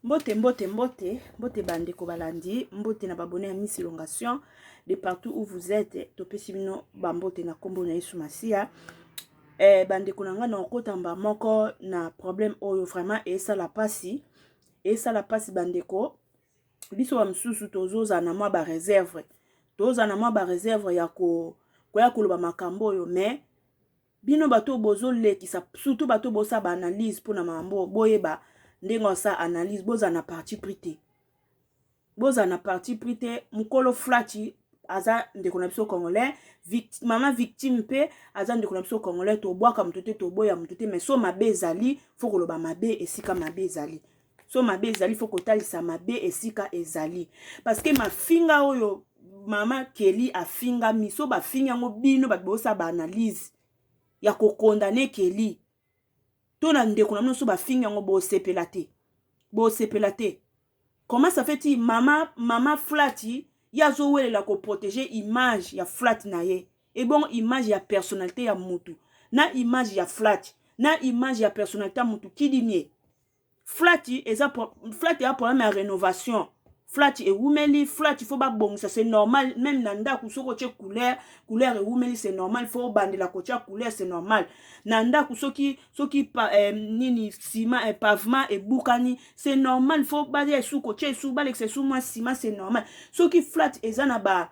Mbote mbote mbote mbote bandeko balandi mbote na babone ya Miss Elongation de partout où vous êtes topesi bino bambote na nkombo na Yesu Masiya eh, bandeko na ngai nakokota mba moko na problème oyo vraiment esala mpasi esala mpasi bandeko biso bamosusu tozozala na mwa bareserve tozala na mwa bareserve ya ko, koya koloba makambo oyo mais Bino bato oyo bozo lekisa surtout bato oyo bosa ba analyse pona mambo oyo boyeba ndenge osa analyse bozala na parti pris te bozala na parti pris te mukolo flachi aza ndeko na biso congolais victime, mama victime mpe aza ndeko na biso congolais tobwaka moto te toboya moto te mais so mabe ezali fo koloba mabe esika mabe ezali so mabe ezali fo kotalisa mabe esika ezali parce que mafinga oyo mama Kelly afinga miso bafinga yango bino bato bosa ba analyse ya kokondane Kelly to na ndeko na bino so bafinga yango bosepela te bosepela te comment ça fait ti mama mama flati ye azowelela koprotege image ya flati na ye ebongo image ya personnalité ya mutu na image ya flati na image ya personnalité ya mutu kidimie Flatty eza flatty a problème ya renovation flatty ewumeli flatty faut babongisa c'est normal même na ndako soki otie couleur couleur ewumeli c'est normal faut obandela kotia couleur c'est normal na ndako soki soki pa, eh, nini sima eh, pavement ebukani c'est normal faut balia esu kotia esu balekisa esu mwa sima c'est normal soki flat eza na ba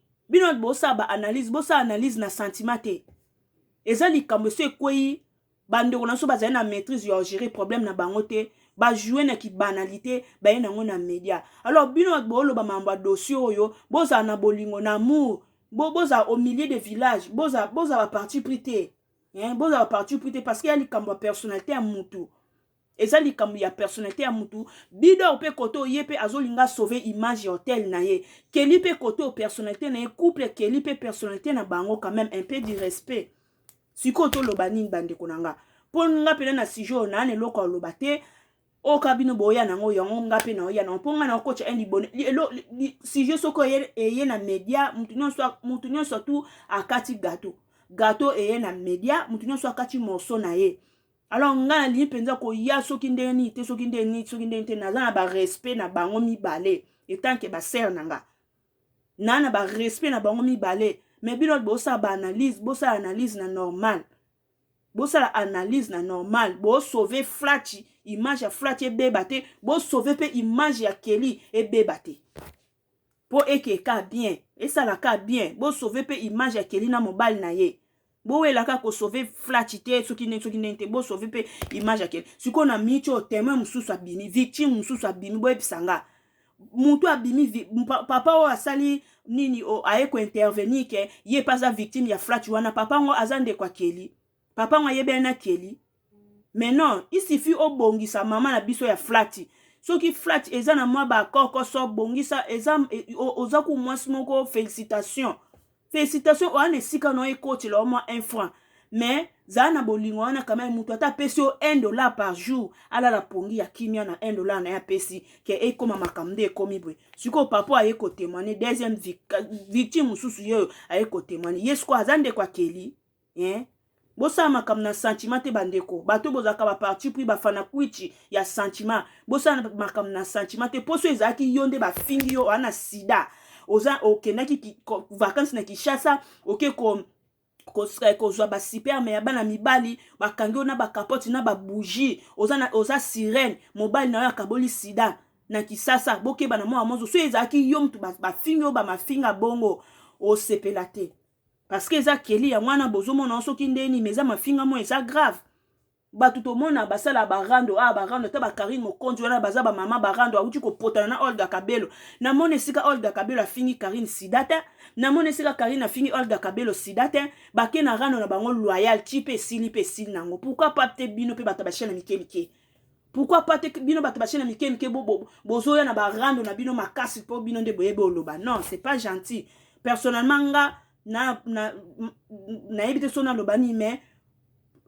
bino natu bosala ba analyse bosala analyse na sentiment te eza likambo esi ekwei bandeko na biso bazali na maîtrise ya gérer problème na bango te bajoue na kibanalité baye nango na média alors bino bato booloba mambo ya dossier oyo bozala na bolingo na amour bozala au milieu de village bozala boza baparti pris te bozala baparti pris te parce que ya likambo ya personnalité ya mutu eza likambo ya personnalité ya mutu bidor pe kote oyo ye pe azolinga sauve image ya hotel na ye keli pe kote oyo personnalité na ye couple keli pe personnalité na bango quand même un peu du respect sikoyo toloba nini bandeko na nga mpo nga mpena na sujet oyo naa na eloko ya loba te oyo kaka bino boya nango yango nga mpe naoya nango mpo nga naokotya un libone sujet soki eye na media motu nyonso tu akati gato gato eye na media motu nyonso akati morceau na ye alors nga nalingi mpenza koya soki ndenge nini te soki ndenge nini soki ndenge te naza na barespect na bango mibale etanke basere na nga na na barespect na bango mibale me bino bosala baanalyse bosala analyse na normal bosala analyse na normal bosauve flachi image ya flachi ebeba te bosauve mpe image ya keli ebeba te Po eke ka bien esala ka bien bo sauve pe image ya kelly na mobali na ye bowela ka ko sauve flachi te soki ndenge soki ndenge te bo sauve pe image ya kelly sikoyo na minute oyo temoin mosusu abimi victime mosusu abimi boyebisa nga mutu abimi papa oyo asali nini aye ko intervenir ke ye pe aza victime ya flachi wana papa ngo aza ndeko ya kelly Papa ngo ayebani na Kelly. Mais non, il suffit obongisa mama na biso ya flati. Soki flati eza na mwa ba kokoso bongisa eza e, oza ku mwasi moko felicitation. Felicitation oana esika no ekotela o mwa 1 franc. Mais zala na bolingo wana kama mutu ata apesi yo 1 dollar par jour alala pongi ya kimia na 1 dollar na ye apesi ke ekoma makambo nde ekomi boye sikoyo papa aye kotemoigne deuxième victime mosusu yeyo aye kotemoigne ye sikoyo aza ndeko akeli eh? bosala makambo na sentiment te bandeko bato bozalaka baparti pris bafanakuichi ya sentiment bosala makambo na sentiment te mposo ezalaki yo nde bafingi yo wana sida oza okendaki vakansi na kinshasa oke ko eh, kozwa basiperme ya bana mibali bakangi yo na bakapote na babougie oza, na, oza sirene mobali na yo akaboli sida na kisasa bokeba na mwana mozo so ezalaki yo moto bafingi yo bamafinga bongo osepela te Parce que eza Kelly yango wana bozo mona yango soki nde nini mais eza mafinga moko eza grave. Batu tomona basala ba rando ah ba rando ata ba Carine Mokonzi wana baza ba mama ba rando awuti kopotana na Olga Kabelo. Na mona esika Olga Kabelo afingi Carine sida te. Na mona esika Carine afingi Olga Kabelo sida te. Bake na rando na bango loyal ti pe esili pe esili nango. Pourquoi pas te bino pe batu ba chaine mike mike. pourquoi pas te bino bato bachene mike mike bozoya na barando na bino makasi mpo bino nde boyebi oloba non c'est pas gentil personnellement nga na, na, nayebi te so naloba nini mais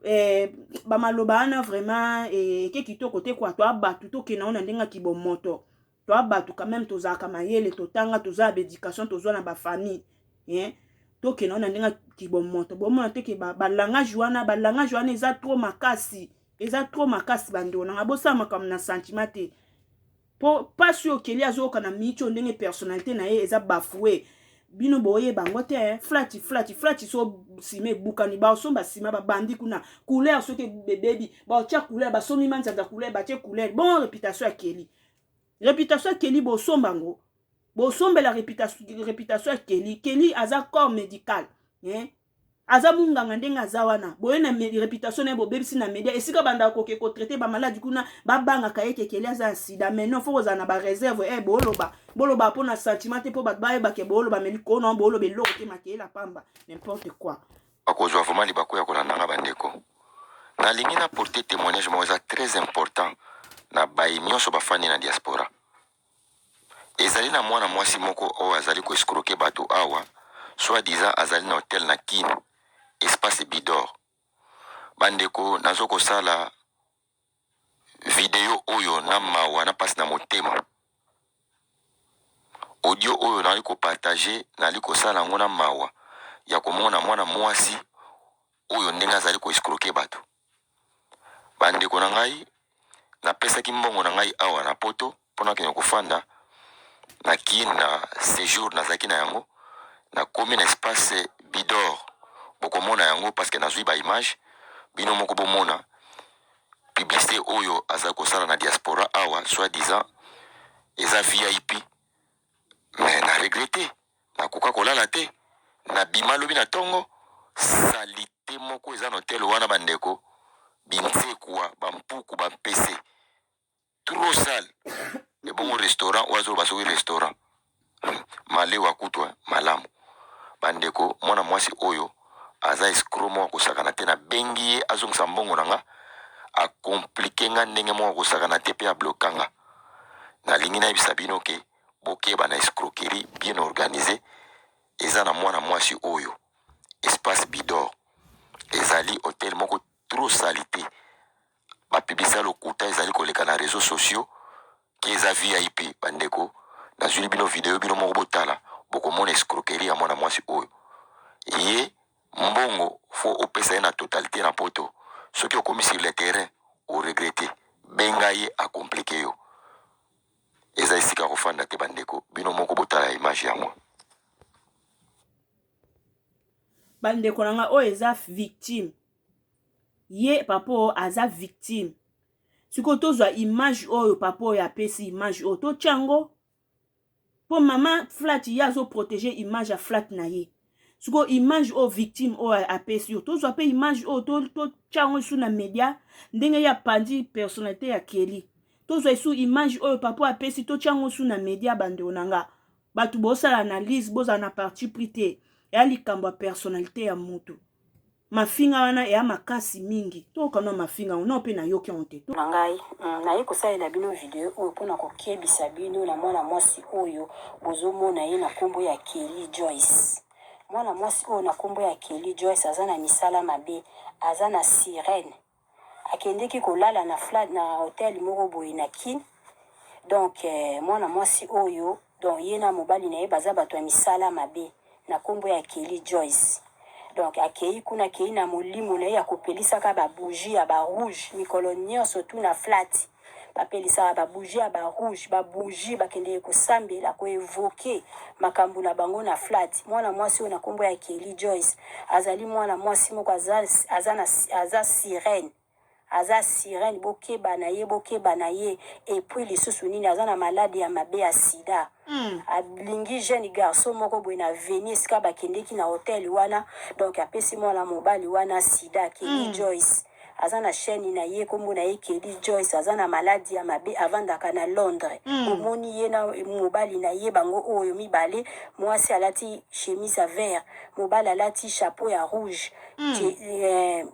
eh, bamaloba wana vraiment eke eh, kitoko te kwa toa bato tokenda ngo na ndenge ya kibomoto toi batu quand même tozalaka mayele totanga toza ba education tozwa na ba famille hein tokenda wana ndenge kibomoto bomona te ke balangage ba wana balangage wana eza trop makasi eza trop makasi bandeko nanga bosala makambo na sentiment te mpo mpasi oyo keli azoyoka na miniti oyo ndenge personnalité na ye eza bafoue bino boyeba yango te eh. flati flati flati so nsima ebukani baosomba nsima babandi kuna couleur soki ebebi baotya couleur basomi manzanza couleur batye couleur bon reputation ya keli reputation ya kelly bosomba ngo bosombela reputation ya kelly kelly aza corps médical eh? aza munganga ndenge aza wana boye na reputation na ye bobebisi na media esika bandaka koke kotraite bamaladi kuna babangaka ye kekeli aza ya sida mai non fo kozala na bareserve e eh, boloba boloba mpo na sentiment te mpo bato bayebake boloba mai likolo na boloba eloko te makeela pamba nimporte quoi Bakozwa vraiment libaku ya kolanda nga bandeko. Nalingi na porter temoignage moko eza très important na baye nionso bafandi na diaspora. Ezali na mwana mwasi moko oyo azali ko escroquer bato awa, soit disant azali na hotel na Kin, espace Bidor. Bandeko nazo kosala Video oyo na mawa na pasi na motema. Audio oyo nali ko partager nali kosala yango na mawa ya komona mwana mwasi oyo ndenge azali ko escroquer bato. Bandeko na ngai napesaki mbongo na ngai awa na poto. mpo nakende kofanda na kin na sejour nazalaki na yango nakomi na espace bidor bokomona yango parceke nazwi baimage bino moko bomona publicité oyo azali kosala na diaspora awa soit disant eza vip me na regrete nakoka kolala te nabima lobi na ntongo salite moko eza na hotel wana bandeko binsekwa bampuku bampese trop sale ebongo restaurant oyo azoloba soki restaurant malewa kutu eh, malamu bandeko mwana mwasi oyo aza escro moko akosakana te nabengi ye azongisa mbongo na nga akomplike nga ndenge moko akosakana te mpe abloka nga nalingi nayebisa bino ke bokeba na escroquerie bien organise eza na mwana mwasi oyo espace bidor ezali hotel moko trop salite ba publicite ya lokuta ezali koleka na reseaux sociaux ki eza vip bandeko nazwili bino video bino moko botala bokomona escroquerie ya mwana mwasi oyo ye mbongo fo opesa ye na totalite na poto soki okomi sur le terrain oregrete benga ye akomplike yo eza esika kofanda te bandeko bino moko botala image yango bandeko na ngai oyo eza victime ye papa oyo aza victime sikoyo tozwa image oyo papa oyo apesi image oyo totya yango mpo mama flat ye azoprotege image ya flat na ye sikoyo image oyo victime oyo apesi oyo tozwa mpe image oyo totya yango esu na media ndenge ye apandi personnalité ya keli tozwa esu image oyo papa oyo apesi totya yango esu na media bandeko na nga bato bosala analyse bozala na parti pris te ya likambo ya personnalité ya motu Mafinga wana eya makasi mingi. To kanwa mafinga yango nao pe na yoki yango te. Na ngai hum naye kosalela bino video oyo pona kokebisa bino na mwana mwasi oyo bozo mona ye na kombo ya Kelly Joyce mwana mwasi oyo na kombo ya Kelly Joyce aza na misala mabe aza na sirene Akendeki kolala na flat na hotel moko boye na kin donc mwana mwasi oyo donc ye na mobali na ye baza bato ya misala mabe na kombo ya Kelly Joyce donc akeyi kuna akeyi na molimo na ye ya kopelisaka ba bougie ya ba rouge mikolo nionso tout na flati bapelisaka ba bougies ya ba rouges, ba bougies bakendeke kosambela, ko evoquer makambu na bango na flat. Mwana mwasi oyo na kombo ya Kelly Joyce azali mwana mwasi moko aza, aza na, aza sirene, aza sirene, bokeba na ye, bokeba na ye, et puis lisusu nini, aza na malade ya mabe ya sida, alingi jeune garçon moko boye na avenue esika bakendeki na hotel wana, donc apesi mwana mobali wana sida, Kelly Joyce. aza na chaine na ye kombo na ye Kelly Joyce aza na maladi ya mabe avandaka na Londres omoni ye na mobali na ye bango oyo mibale muasi alati chemise ya vert mobali alati chapeau ya rouge Ke, eh,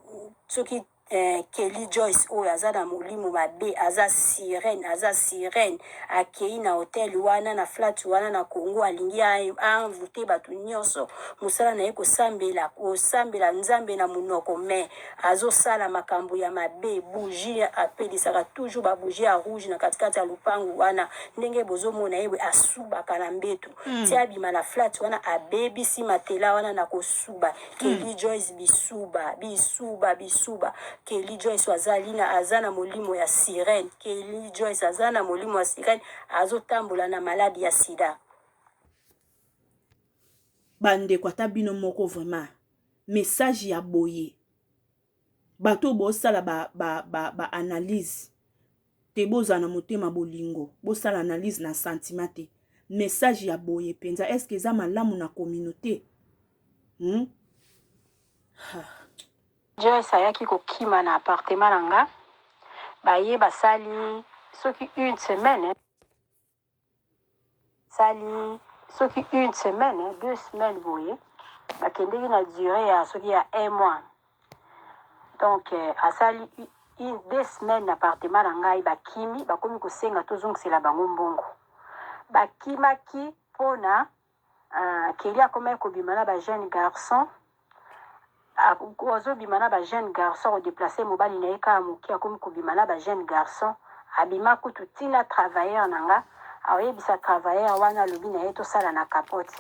soki eh, Kelly Joyce oyo aza na molimo mabe aza sirène aza sirène akei na hotel wana na flat wana na Congo alingi a a envoute batu nionso musala na ye kosambela kosambela Nzambe na munoko mais azo sala makambu ya mabe bougie apelisaka toujours ba bougie ya rouge na kati kati ya lupangu wana ndenge bozo mona ye boye asubaka na mbetu ti abima na flat wana abebisi matela wana na kosuba Kelly Joyce bisuba bisuba bisuba Kelly Joyce azali na aza na molimo ya sirène Kelly Joyce aza na molimo ya sirène azo tambola na malade ya sida. Bandeko ata bino moko vraiment. message ya boye bato oyo bosala ba, ba, ba, ba analyse te bozala na motema bolingo bosala analyse na sentiment te message ya boye mpenza eske eza malamu na communauté hmm? Joyce ayaki kokima na appartement na nga baye basali soki une semaine Esali soki une semaine, deux semaines boye, bakendeki na duree ya soki ya un mois. Donc euh, asali une deux semaines na appartement na ngai, bakimi, bakomi kosenga tozongisela bango mbongo. Bakimaki mpona Ah Kelly akomaki kobima na ba jeune garçon azobima na ba jeune garçon ko deplacer mobali na ye kaka moke akomi kobima na ba jeune garçon abima kutu ti na travailleur na nga akoyebisa travailleur wana alobi na ye tosala na capote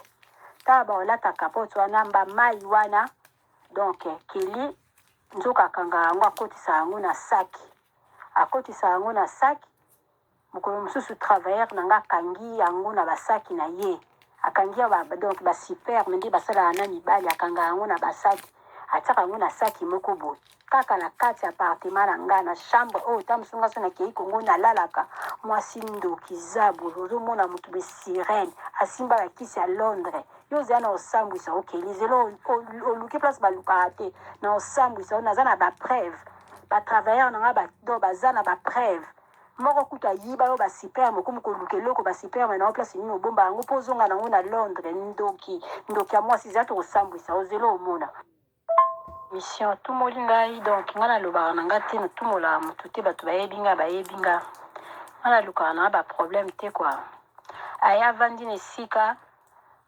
tala bakolata capote wana mba mai wana donc Kelly nzoka akangaka yango akotisa yango na saki akotisa yango na saki Mokolo mosusu travailleur na nga akangi yango na ba sac na ye, akangi ya ba donc ba superme nde basalaka na mibali, akangaka yango na ba sac, atiaka yango na sac moko boye kaka na kati ya appartement na nga na chambre oyo. Tango mosusu nga soki nakeyi Congo nalalaka, mwasi ndoki zabolo, ozomona mutu de sirene asimba ba kisi ya Londres, yo oza na osambwisa yo Kelly, zela oluki place balukaka te, na osambwisa yo, naza na ba preuves, ba travailleurs na nga ba donc baza na ba preuves. moko kutu ayiba yo ba sperme okomi koluka eloko ba sperme na yo place nini obomba yango po ozonga na yango na Londres ndoki ndoki ya mwasi zela tokosambwisa yo zela omona mission otumoli ngai donc ngai nalobaka na ngai te natumolaka motu te bato bayebi ngai bayebi ngai ngai nalukaka na ngai baproblème te kua aya avandi na esika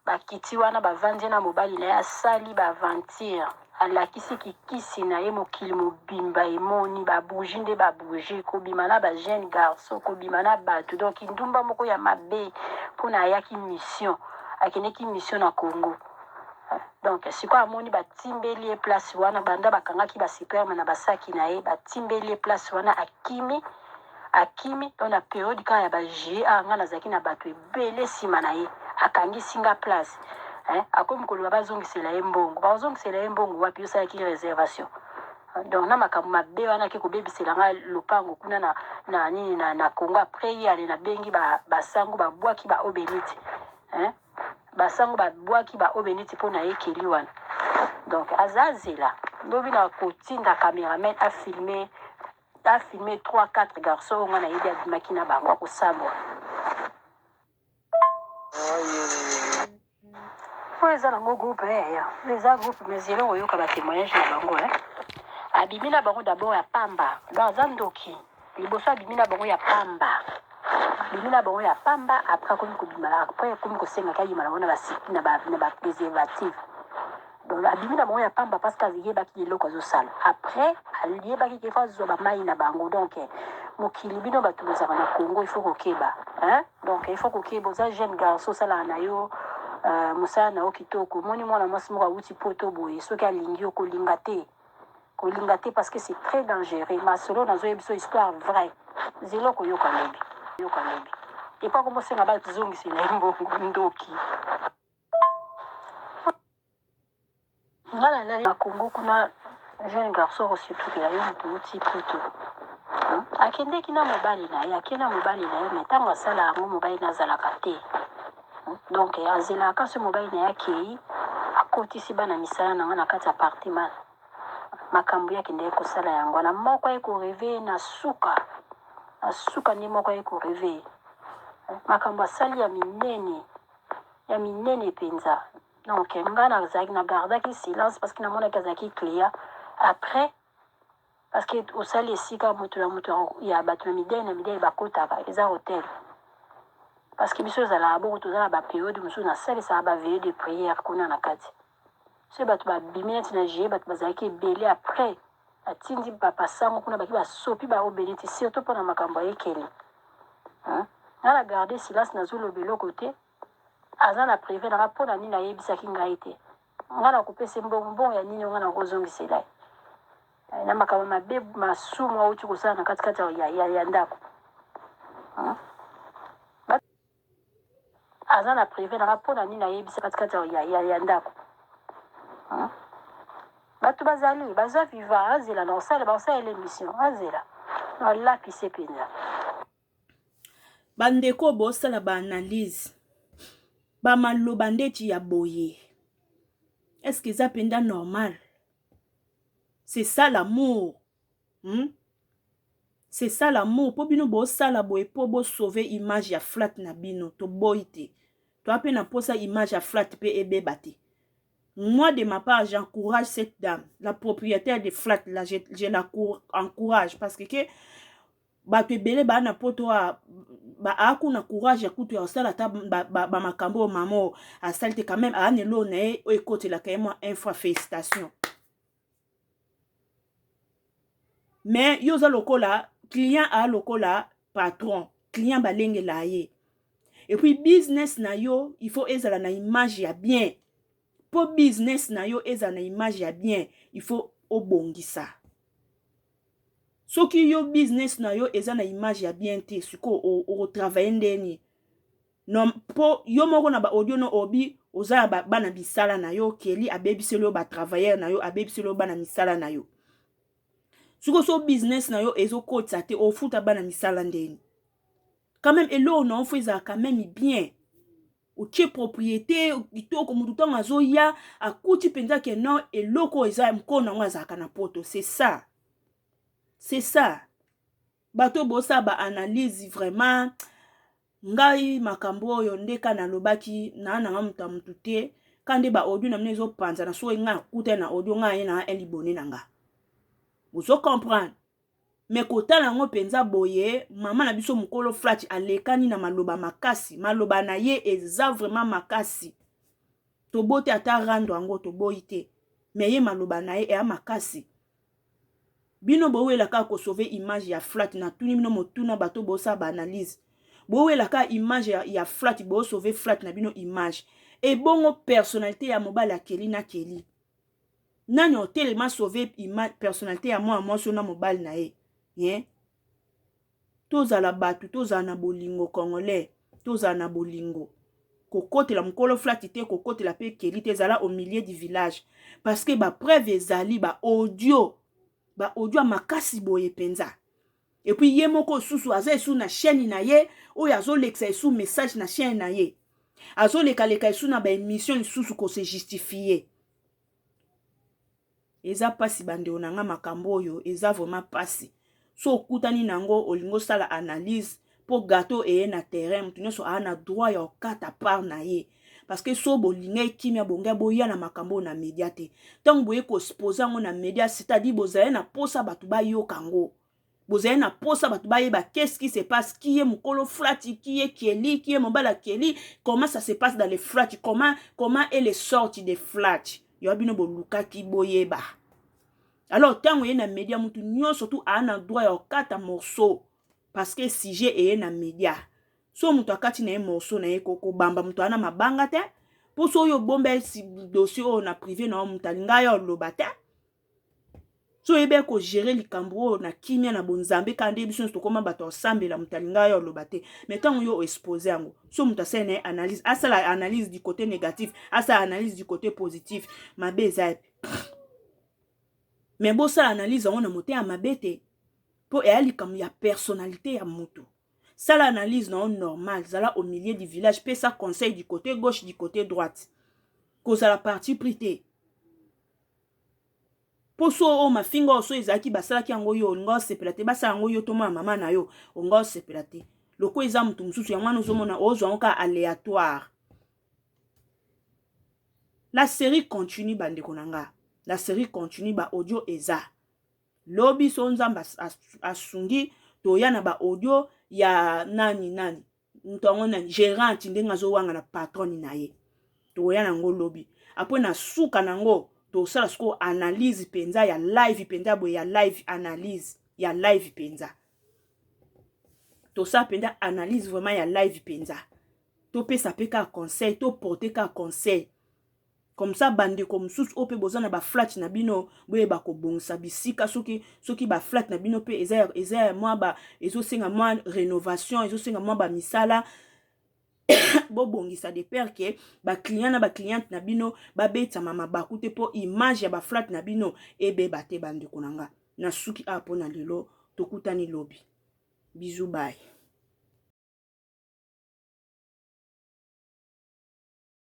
Bakiti wana bavandi ye na mobali na ye asali ba aventure alakisi ki kisi na ye mokili mobimba emoni ba bougie nde ba bougie kobima na ba jeune garçon kobima na batu donc kindumba moko ya mabe pona ayaki mission akendeki mission na Congo donc sikoyo amoni batimbeli ye place wana banda bakangaki ba superme na basaki na ye batimbeli ye place wana akimi akimi donc na periode kaka ya ba GA nga nazalaki na batu pele sima na ye akangisi nga place hein akomi koloba bazongisela ye mbongo bakozongisela ye mbongo wapi yo osalaki reservation donc na makambo mabe wana ake kobebisela nga lopango kuna na, na nini na, na Congo après ye ale nabengi ba, basango babwaki ba obeniti hein basango babwaki ba obeniti mpo na ekeli wana donc aza azela lobi na kotinda cameraman afilme Ta filme trois quatre garçon oyo nga nayebi abimaki na bango ako sabwa oyo eza na ngo groupe eh, ya eza groupe mais yelo oyoka ba temoignage na bango eh. abimi na bango d'abord ya pamba donc aza ndoki liboso abimi na bango ya pamba abimi na bango ya pamba après akomi kobima après akomi kosenga kayima na bango na ba site na ba na ba preservative Donc abimi na bango ya pamba parce que ayebaki eloko azosala. Après ayebaki qu'il faut azwa ba mayi na bango. Donc eh, mokili bino bato bozalaka na Congo il faut kokeba. Hein? Donc il faut kokeba oza jeune garçon osalaka na yo euh, mosala na yo kitoko. Omoni mwana mwasi moko awuti poto boye soki alingi yo kolinga te. Kolinga te parce que c'est très dangereux. Masolo nazoyeba biso histoire vraie. Zelo koyoka lobi. Yoka lobi. Epa komosenga bazongisela ye mbongo ndoki. Nga na lali na Congo kuna jeune garçon ko sepelisa ye mutu awuti poto akendeki na mobali na ye ake na mobali na ye me ntango asala yango mobali na azalaka te donc azelaka so mobali na ye akei akotisi bana misala na nga na kati ya apartema makambo ye akendeki kosala yango wana moko aye koreveye na suka na suka nde moko aye koreveye makambo asali ya minene ya minene penza donc nga nazalaki na gardaki silence parce que namonaki azalaki client après parce que osali esika moto na moto ya bato na midele na midele bakotaka eza hotel parce que biso ezalaka bongo toza na baperiode mosusu nasalisaka baveye de prière kuna na kati Soki batu ba bimi neti na GIE batu bazalaki ebele après ba tindi papa sango kuna bake ba sopi ba obeniti surtout pona makambo ya ekeli hein nga na garde silence nazo loba eloko te aza na prive nanga pona nini ayebisaki ngai te nga na kopese mbongo mbongo ya nini nga na kozongisela ye Eh, na makambo mabe masumu awuti kosala na kati kati ya, ya, ya, ya ndako hein? Aza na prive na nga pona nini ayebisa kati kati ya ya ndaku hum batu bazali baza vivant azela na osala ba osala ele mission azela alapise penza bandeko bosala ba analyse bamaloba ndeti ya boye est ce que eza mpenza normal c'est ça l'amour Hum c'est ça l'amour po bino bo sala boye po bo sauver image ya flat na bino to boyi te toa pe na posa image ya flat pe ebeba te moi de ma part j'encourage cette dame la propriétaire de flat là je, je la encourage parce que, que bato ebele baa na poto a aaku na courage ya kutu ya kosala ata bamakambo oyo mama oyo asali te quand même aa na eloo na ye oyo ekotelaka ye mwa infra félicitation mais yo oza lokola client aa lokola patron client balengelaa ye epuis business na yo il faut ezala na image ya bien mpo business na yo ezala na image ya bien il faut obongisa soki yo business na yo eza na image ya bien te sikoyo okotravaille ndeni Non po yo moko na ba audio no obi oza na ba bana misala na yo Kelly abebiseli yo ba travailleurs na yo abebiseli yo bana misala na yo siko so business na yo ezo kotisa te ofuta bana misala ndeni quand même eloko na ofo ezala quand même bien otie propriété kitoko motu ntango azoya akuti mpenza ke non eloko eza mkona yango azalaka na poto c'est ça c'est ça bato bosala ba analyse vraiment ngai makambo oyo nde ka nalobaki naa nanga moto ya motu te ka nde baaudio na bino ezopanzana soki ngai akutani na audio ngai aye nanga elibone na nga bozo comprendre me kotala yango mpenza boye mama na biso mokolo flati alekani na maloba makasi maloba na ye eza vraiment makasi tobote ata rando yango toboyi te me ye maloba na ye eya makasi bino bowela kaka ko sauver image ya flat na tuni bino motuna bato bosala ba analyse bowela kaka image ya, ya flat bo sauver flat na bino image ebongo personnalité ya mobali akeli na keli nani otelema sauver image personnalité ya mwana mwasi na mobali na ye ye tozala batu tozala na bolingo congolais tozala na bolingo kokotela mokolo flati te kokotela pe keli te zala au milieu du village parce que ba preuve ezali ba audio ba audio ya makasi boye penza epuis ye moko susu aza esu na chaîne na ye oyo azolekisa esu message na chaîne na ye azolekaleka esu na baemission lisusu kose justifie eza mpasi bandeko na ngai makambo oyo eza vraiment mpasi so okutani na yango olingi osala analyse mpo gato eye na terrain moto nyonso aa na droit ya okata part na ye parce que so bolinga ekimia bongai boya na makambo oyo na media te ntango boye kospose yango na media c'est-à-dire bozali na mposa bato bayoka yango bozali na posa bato bayeba qu'est-ce qui se passe qui est mukolo frati qui est keli qui est mobala keli comment ça se passe dans les frati comment comment est les sorti de frati yo bino bolukaki boyeba alors ntango eye na media mutu nyonso tu aa na droit ya kokata morceau parce que sujet eye na media so moto akati na ye morceau na ye kobamba moto wana mabanga te mpo so oyo obomba dossier oyo na prive na yo moto alinga yo oloba te so oyebi ya kogere likambo oyo na kimia na bonzambe kaka nde biso nyonso tokoma bato ya osambela moto alinga yo aloba te mai ntango yo oexpose yango so moto asala na ye analyse asala analyse du côté négatif asala analyse du côté positif mabe eza yape mai bosala analyse yango na mote ya mabe te mpo eya likambo ya personnalité ya moto sala analyse na yo normal zala au milieu du village pesa conseil du côté gauche du côté droite kozala parti pris te Poso oyo mafinga oyo so ezalaki basalaki yango yo olinga osepela te basala yango yo tomona mama na yo olinga osepela te lokola eza moto mosusu yango wana ozomona ozwa yango kaka aléatoire la série continue bandeko na nga la série continue ba audio eza lobi so nzambe asungi toya na ba audio ya nani nani moto yango na gerante ndenge azowanga na patrone na ye tokoya na yango lobi apres na suka na yango tosala sikoyo analyse mpenza ya live mpenza boye ya live analyse ya live mpenza tosala mpenza analyse vraiment ya live mpenza topesa mpe kaka conseil toporte kaka conseil comme ça bandeko mosusu oyo mpe boza na baflate na bino boyeba kobongisa bisika soki soki baflate na bino mpe eza eza mwa ba ezosenga mwa rénovation ezosenga mwa bamisala bobongisa de pere ke baclient na bacliente na bino babetama mabaku te mpo image ya baflate na bino ebeba te bandeko na nga nasuki awa mpo na lelo tokutani lobi bizu baye